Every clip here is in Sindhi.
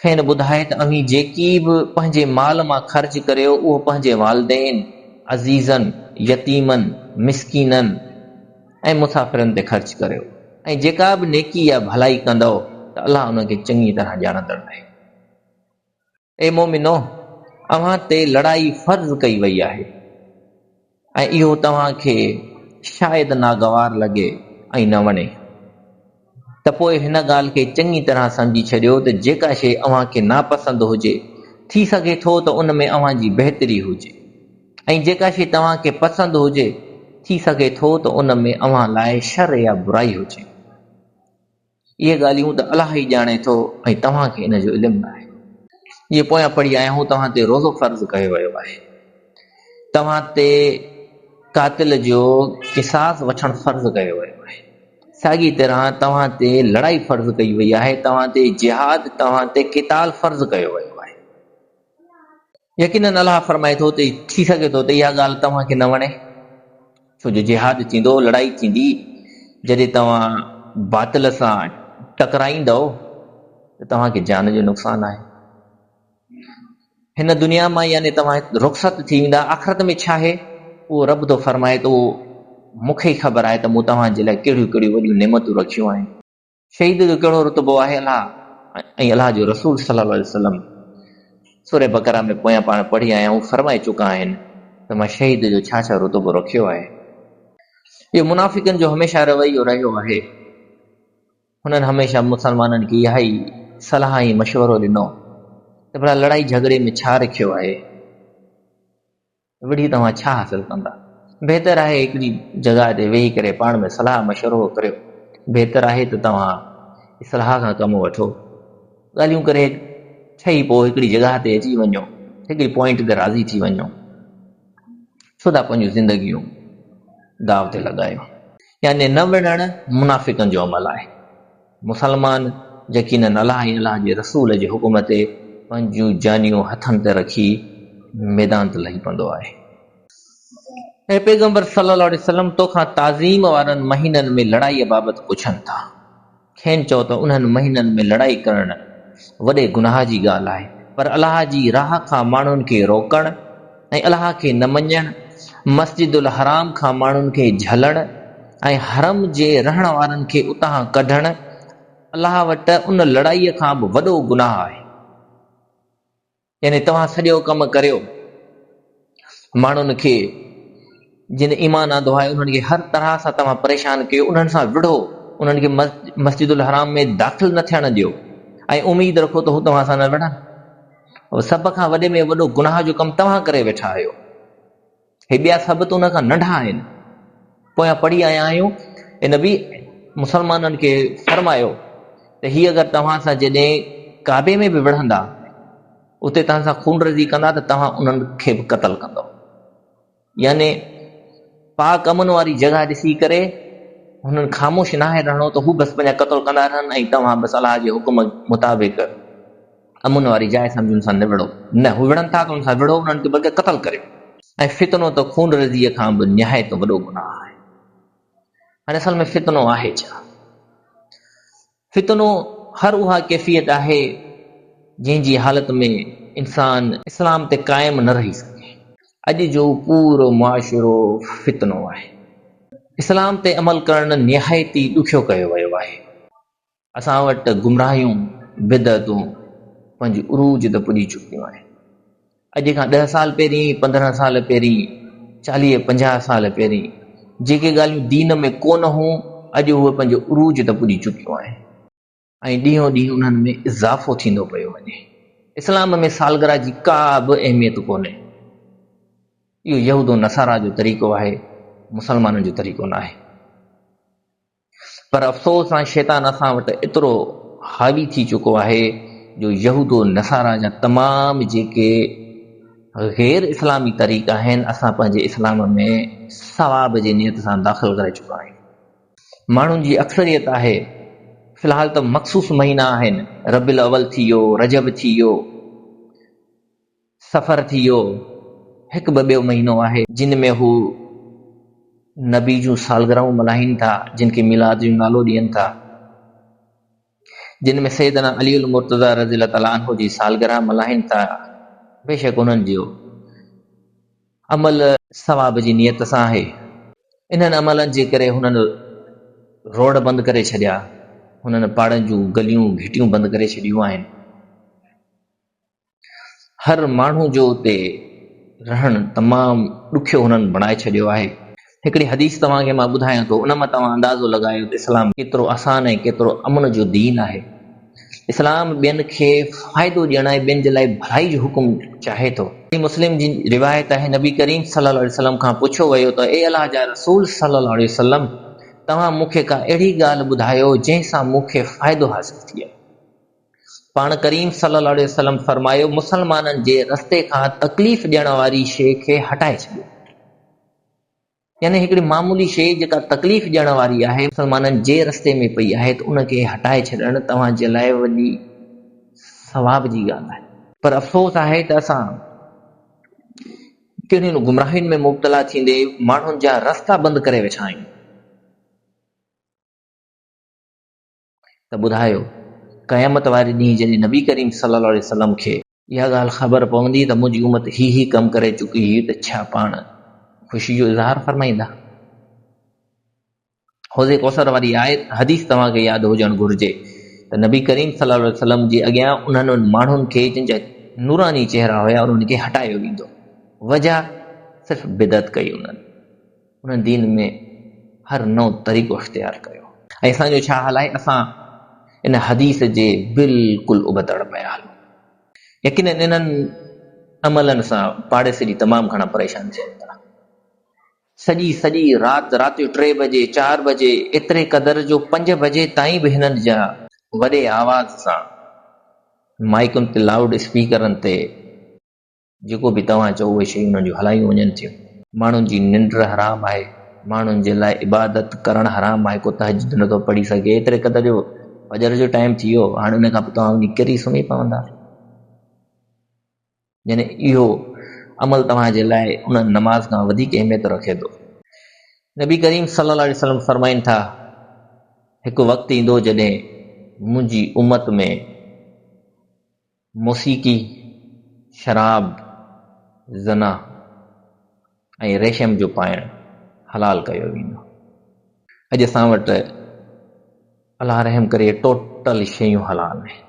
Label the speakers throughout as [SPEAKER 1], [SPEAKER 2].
[SPEAKER 1] کين ٻڌائي ته اوهين جيڪي به پنهنجي مال مان خرچ ڪريو اهو پنهنجي والدين، عزيزن، يتيمن، مسڪينن ۽ مسافرن تي خرچ ڪريو ۽ جيڪا به نيڪي يا ڀلائي ڪندؤ ته الله ان کي چڱي طرح ڄاڻندڙ آهي. اي مؤمنو! اوهان تي لڙائي فرض ڪئي وئي آهي. ۽ اهو توهان کي شايد ناگوار لڳي ۽ نه وڻي ته پوء هن ڳالهه کي چڱي طرح سمجهي ڇڏيو ته جيڪا شيء اوهان کي ناپسند هجي، ٿي سگهي ٿو ته ان ۾ اوهان جي بهتري هجي ۽ جيڪا شيء توهان کي پسند هجي، ٿي سگهي ٿو ته ان ۾ اوهان لاء شر يا برائي هجي. اهي ڳالهيون ته الله ئي ڄاڻي ٿو ۽ توهان کي ان جو علم ناهي. جيئن پويان پڙهي آيا آهيون توهان تي روزو فرض ڪيو ويو آهي. توهان تي قاتل جو قصاص وٺڻ فرض ڪيو ويو آهي. ساڳي طرح توهان تي لڙائي فرض ڪئي وئي آهي. توهان تي جهاد، توهان تي قتال فرض ڪيو ويو آهي. يقيناً الله فرمائي ٿو ته ٿي سگهي ٿو ته اها ڳالهه توهان کي نه وڻي، ڇو جو جهاد ٿيندو، لڙائي ٿيندي، جڏهن توهان باطل سان ٽڪرائيندؤ ته توهان کي جان جو نقصان آهي. هن دنيا مان يعني توهان رخصت ٿي ويندا، آخرت ۾ ڇا آهي اهو رب ٿو فرمائي ته اهو مون کي ئي خبر آهي ته مون توهان جي لاء ڪهڙيون ڪهڙيون وڏيون نعمتون رکيون آهن. شهيد جو ڪهڙو رتبو آهي الله ۽ الله جو رسول صلي الله عليه وسلم سورة بقره ۾ پويان پاڻ پڙهي آيا آهيون فرمائي چڪا آهن ته مان شهيد جو ڇا ڇا رتبو رکيو آهي اهو منافقن جو هميشه رويو رهيو آهي هنن هميشه مسلمانن کي اها ئي صلاح ۽ مشورو ڏنو ته ڀلا لڙائي جهڳڙي ۾ ڇا رکيو آهي وڙهي توهان ڇا حاصل ڪندا؟ بهتر آهي هڪڙي جڳهه تي ويهي ڪري پاڻ ۾ صلاح مشورو ڪريو. بهتر آهي ته توهان اصلاح کان ڪم وٺو. ڳالهيون ڪري ٺهي پوء هڪڙي جڳهه تي اچي وڃو. هڪڙي پوائنٽ تي راضي ٿي وڃو. ڇو ٿا پنهنجون زندگيون داء تي لڳايو. يعني نه وڙهڻ منافقن جو عمل آهي. مسلمان يقينن الله ۽ الله جي رسول جي حڪم تي پنهنجون جانيون هٿن تي رکي ميدان تي لهي پوندو آهي. اي پيغمبر صلي الله عليه وسلم تو کان تعظيم وارن مهينن ۾ لڙائي بابت پڇن ٿا، کين چئو ته انهن مهينن ۾ لڙائي ڪرڻ وڏي گناهه جي ڳالهه آهي، پر الله جي راهه کان ماڻهن کي روڪڻ، ۽ الله کي نه مڃڻ، مسجد الحرام کان ماڻهن کي جهلڻ ۽ حرم جي رهڻ وارن کي اتان ڪڍڻ الله وٽ ان لڙائيء کان به وڏو گناهه آهي. يعني توهان سڄو ڪم ڪريو ماڻهن کي. جن ايمان آندوآهي انهن کي هر طرح سان توهان پريشان ڪيو، انهن سان وڙهو، انهن کي مسجد الحرام ۾ داخل نه ٿيڻ ڏيو ۽ اميد رکو ته هو توهان سان نه وڙهن. سڀ کان وڏي ۾ وڏو گناهه جو ڪم توهان ڪري ويٺا آهيو. هي ٻيا سڀ ته ان کان ننڍا آهن. پويان پڙهي آيا آهيون اي نبي! مسلمانن کي فرمايو ته هي اگر توهان سان جيڏي ڪعبي ۾ به وڙهندا، اتي توهان سان خونريزي ڪندا ته توهان انهن کي به قتل ڪندؤ. يعني پاڪ امن واري جڳهه ڏسي ڪري هنن خاموش ناهي رهڻو ته هو بس پنهنجا قتل ڪندا رهن ۽ توهان بس الله جي حڪم مطابق امن واري جاء سمجهي ان سان نبڙو. نه، هو وڙهن ٿا ته ان سان وڙهو، انهن کي بلڪه قتل ڪريو. ۽ فتنو ته خون ريزيء کان به نهايت وڏو گناهه آهي. هاڻي اصل ۾ فتنو آهي ڇا؟ فتنو هر اها ڪيفيت آهي، جنهن جي حالت ۾ انسان اسلام تي قائم نه رهي سگهي. اڄ جو پورو معاشرو فتنو آهي. اسلام تي عمل ڪرڻ نهايت ئي ڏکيو ڪيو ويو آهي. اسان وٽ گمراهيون، بدعتون پنهنجي عروج تي پڄي چڪيون آهن. اڄ کان ڏهه سال پهرين، پندرهن سال پهرين، چاليهه پنجاهه سال پهرين جيڪي ڳالهيون دين ۾ ڪو نه هون اڄ اهي پنهنجو عروج ته پڄي چڪيون آهن ۽ ڏينهون ڏينهن انهن ۾ اضافو ٿيندو پيو وڃي. اسلام ۾ سالگرهه جي ڪا به اهميت ڪونهي. اهو يهود و نصارا جو طريقو آهي، مسلمانن جو طريقو ناهي. پر افسوس سان شيطان اسان وٽ ايترو حاوي ٿي چڪو آهي جو يهود و نصارا جا تمام جيڪي غير اسلامي طريقا آهن اسان پنهنجي اسلام ۾ ثواب جي نيت سان داخل ڪرائي چڪا آهيون. ماڻهن جي اڪثريت آهي في الحال ته مخصوص مهينا آهن ربيع الاول ٿي ويو، رجب ٿي ويو، سفر ٿي ويو هڪ ٻه ٻيو مهينو آهي. جن ۾ هو نبي جون سالگرهون ملهائين ٿا جن کي ميلاد جو نالو ڏين ٿا جن ۾ سيدنا علي المرتضيٰ رضي الله تعالٰي عنه جي سالگرهه ملهائين ٿا بيشڪ انهن جو عمل ثواب جي نيت سان آهي انهن عملن جي ڪري هنن روڊ بند ڪري ڇڏيا هنن پاڙن جون گليون گهٽيون بند ڪري ڇڏيون آهن. هر ماڻهو جو اتي رهڻ تمام ڏکيو هنن بڻائي ڇڏيو آهي. هڪڙي حديث توهان کي مان ٻڌايان ٿو ان مان توهان اندازو لڳايو ته اسلام ڪيترو آسان ۽ ڪيترو امن جو دين آهي. اسلام ٻين کي فائدو ڏيڻ ۽ ٻين جي لاء ڀلائي جو حڪم چاهي ٿو. صحيح مسلم جي روايت آهي نبي ڪريم صلي الله عليه وسلم کان پڇيو ويو ته اي الله جا رسول صلي الله عليه وسلم توهان مون کي ڪا اهڙي ڳالهه ٻڌايو جنهن سان مون کي فائدو حاصل ٿئي. پاڻ ڪريم صلي الله عليه وسلم فرمايو، مسلمانن جي رستي کان تڪليف ڏيڻ واري شيء کي هٽائي ڇڏيو. يعني هڪڙي معمولي شيء جيڪا تڪليف ڏيڻ واري آهي، مسلمانن جي رستي ۾ پئي آهي ته ان کي هٽائي ڇڏڻ توهان جي لاء وڏي ثواب جي ڳالهه آهي. پر افسوس آهي ته اسان ڪهڙين گمراهين ۾ مبتلا ٿيندي ماڻهن جا رستا بند ڪري ويٺا آهيون. ته ٻڌايو، قيامت واري ڏينهن جڏهن نبي ڪريم صلي الله عليه وسلم کي اها ڳالهه خبر پوندي ته منهنجي امت هي هي ڪم ڪري چڪي هئي ته ڇا پاڻ خوشي جو اظهار فرمائيندا؟ حوض ڪوثر واري آيت حديث توهان کي ياد هجڻ گهرجي ته نبي ڪريم صلي الله عليه وسلم جي اڳيان انهن ماڻهن کي جن جا نوراني چهرا هيا انهن کي هٽايو ويندو وجهه صرف بدعت ڪئي انهن. ان دين ۾ هر نئون طريقو اختيار ڪيو. ۽ اسان جو ڇا حال آهي؟ اسان ان حديث جي بلڪل ابتڙ پيا هلون. يقيناً انهن عملن سان پاڙيسري به تمام گهڻا پريشان ٿين ٿا. سڄي سڄي رات، رات جو ٽي بجي، چار بجي، ايتري قدر جو پنج بجي تائين به هنن جا وڏي آواز سان مائيڪن تي، لائوڊ اسپيڪرن تي، جيڪو به توهان چئو اهي شيون انهن جون هلايون وڃن ٿيون. ماڻهن جي ننڊ حرام آهي، ماڻهن جي لاء عبادت ڪرڻ حرام آهي، ڪو تهجد نٿو پڙهي سگهي، ايتري قدر جو فجر جو ٽائيم ٿي ويو، هاڻي ان کان پوء توهان وڃي ڪري سمهي پوندا. يعني اهو عمل توهان جي لاء ان نماز کان وڌيڪ اهميت رکي ٿو. نبي ڪريم صلي الله عليه وسلم فرمائن ٿا، هڪ وقت ايندو جڏهن منهنجي امت ۾. موسيقي، شراب، زنا ۽ ريشم جو پائڻ حلال ڪيو ويندو. اڄ اسان وٽ الله رحم ڪري ٽوٽل شيون حلال آهن.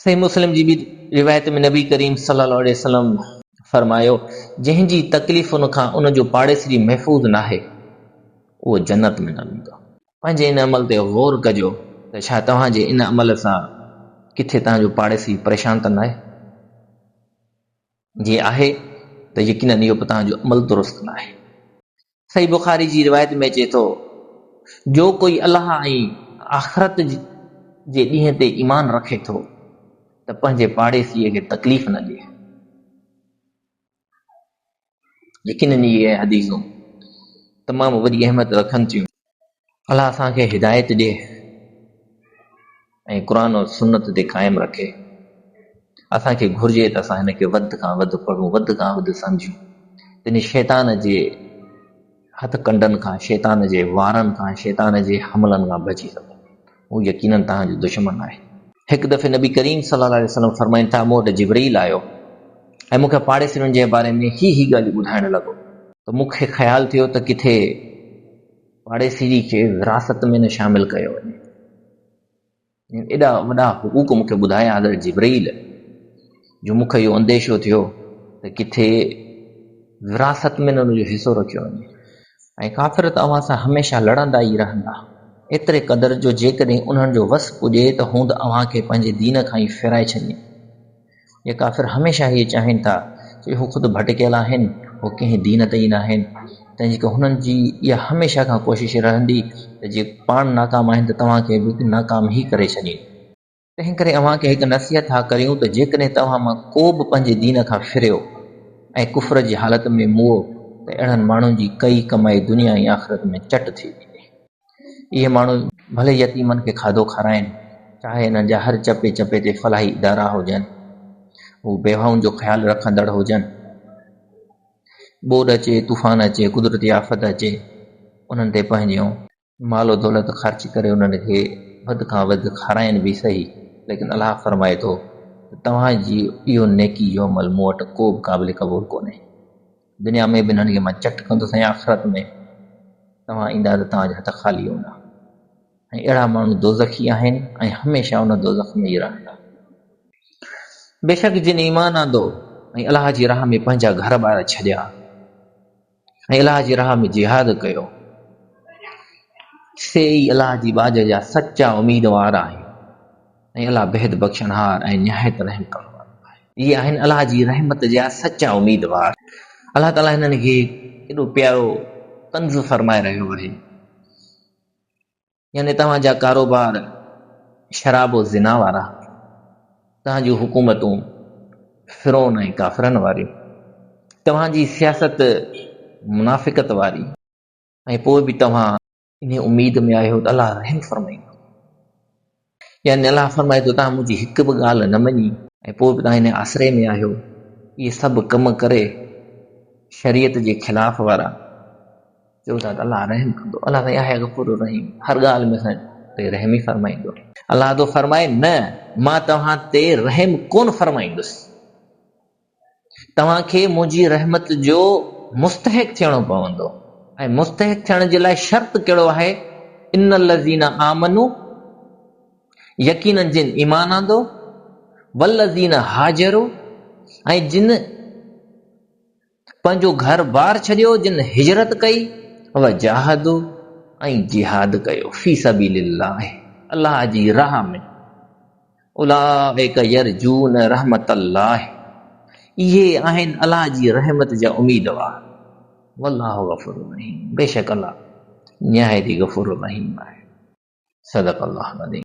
[SPEAKER 1] صحيح مسلم جي ٻي روايت ۾ نبي ڪريم صلي الله عليه وسلم فرمايو، جنهن جي تڪليفن کان ان جو پاڙيسري محفوظ ناهي، اهو جنت ۾ نه ويندو. پنهنجي ان عمل تي غور ڪجو ته ڇا توهان جي ان عمل سان ڪٿي توهان جو پاڙيسري پريشان ته ناهي؟ جي آهي ته يقيناً اهو به توهان جو عمل درست ناهي. صحيح بخاري جي روايت ۾ اچي ٿو، جو ڪوئي الله ۽ آخرت جي ڏينهن تي ايمان رکي ٿو ته پنهنجي پاڙيسري کي تڪليف نه ڏي. يقينن اهي حديثون تمام وڏي اهميت رکن ٿيون. الله اسان کي هدايت ڏي ۽ قرآن و سنت تي قائم رکي. اسان کي گهرجي ته اسان هن کي وڌ کان وڌ پڙهون، وڌ کان وڌ سمجهون، تنهن شيطان جي. هٿ ڪنڊن کان، شيطان جي وارن کان، شيطان جي حملن کان بچي سگهو. هو يقيناً توهان جو دشمن آهي. هڪ دفعي نبي ڪريم صلي الله عليه وسلم فرمائن ٿا، مون وٽ جبرئيل آيو ۽ مون کي پاڙيسرين جي باري ۾ هي هي ڳالهيون ٻڌائڻ لڳو، ته مون کي خيال ٿيو ته ڪٿي پاڙيسري کي وراثت ۾ نه شامل ڪيو وڃي. جن ايڏا وڏا حقوق مون کي ٻڌايا حضرت جبرئيل جو مون کي اهو انديشو ٿيو ته ڪٿي وراثت ۾ نه ان جو حصو رکيو وڃي ۽ ڪافر ته اوهان سان هميشه لڙندا ئي رهندا ايتري قدر جو جيڪڏهن انهن جو وس پڄي ته هوند اوهان کي پنهنجي دين کان ئي ڦيرائي ڇڏين. اهي ڪافر هميشه هيء چاهين ٿا ته هو خود ڀٽڪيل آهن، هو ڪنهن دين تي ئي ناهن، تنهنجي ڪري هنن جي اها هميشه کان ڪوشش رهندي ته جي پاڻ ناڪام آهن ته توهان کي به ناڪام ئي ڪري ڇڏين. تنهنڪري اوهان کي هڪ نصيحت ٿا ڪريون ته جيڪڏهن توهان مان ڪو به پنهنجي دين کان ڦريو ۽ ڪفر جي حالت ۾ مئو ته اهڙن ماڻهن جي ڪئي ڪمائي دنيا ۽ آخرت ۾ چٽ ٿي ويندي. اهي ماڻهو ڀلي يتيمن کي کاڌو کارائين، چاهي انهن جا هر چپي چپي تي فلاحي ادارا هجن، هو بيواهن جو خيال رکندڙ هجن، ٻوڏ اچي، طوفان اچي، قدرتي آفت اچي، انهن تي پنهنجو مال و دولت خرچ ڪري انهن کي وڌ کان وڌ کارائين به سهي، ليڪن الله فرمائي ٿو ته توهان جي اهو نيڪي جو عمل مون وٽ ڪوبه قابل قبول ڪونهي. دنيا ۾ به انهن کي مان چٽ ڪندس ۽ آخرت ۾ توهان ايندا ته توهان جا هٿ خالي هوندا ۽ اهڙا ماڻهو دوزخي آهن ۽ هميشه ان دوزخ ۾ ئي رهندا. بيشڪ جن ايمان آندو ۽ الله جي راهه ۾ پنهنجا گهر ٻار ڇڏيا ۽ الله جي راهه ۾ جهاد ڪيو، سي ئي الله جي ٻاجهه جا سچا اميدوار آهن. ۽ الله بيحد بخشڻهار ۽ نهايت رحم ڪرڻ وارو آهي. اهي آهن الله جي رحمت جا سچا اميدوار. الله تعاليٰ هنن کي ڪيڏو پيارو ڪنز فرمائي رهيو آهي. يعني توهان جا ڪاروبار شراب و زنا وارا، توهان جون حڪومتون فرعون ۽ ڪافرن واريون، توهان جي سياست منافقت واري ۽ پوء به توهان، انهيء اميد ۾ آهيو ته الله رحم فرمائيندو. يعني الله فرمائي ٿو توهان منهنجي هڪ به ڳالهه نه مڃي ۽ پوء به توهان انهيء آسري ۾ آهيو. اهي سڀ ڪم ڪري شريعت جي خلاف وارا چئو ٿا ته الله رحم ڪندو. الله سائين آهي غفور الرحيم هر ڳالهه ۾ اسان تي رحم ئي فرمائيندو. الله ٿو فرمائي نه مان توهان تي رحم ڪونه فرمائيندس. توهان کي منهنجي رحمت جو مستحق ٿيڻو پوندو ۽ مستحق ٿيڻ جي لاء شرط ڪهڙو آهي ان الذين آمنو يقينن جن ايمان آندو والذين هاجرو ۽ جن پنهنجو گهر بار ڇڏيو جن هجرت ڪئي وجاهدو ۽ جهاد ڪيو في سبيل الله الله جي راهه ۾ اولئک يرجون رحمت الله اهي آهن الله جي رحمت جا اميدوار والله غفور رحيم بيشڪ الله نهايت ئي غفور رحيم آهي صدق الله العظيم.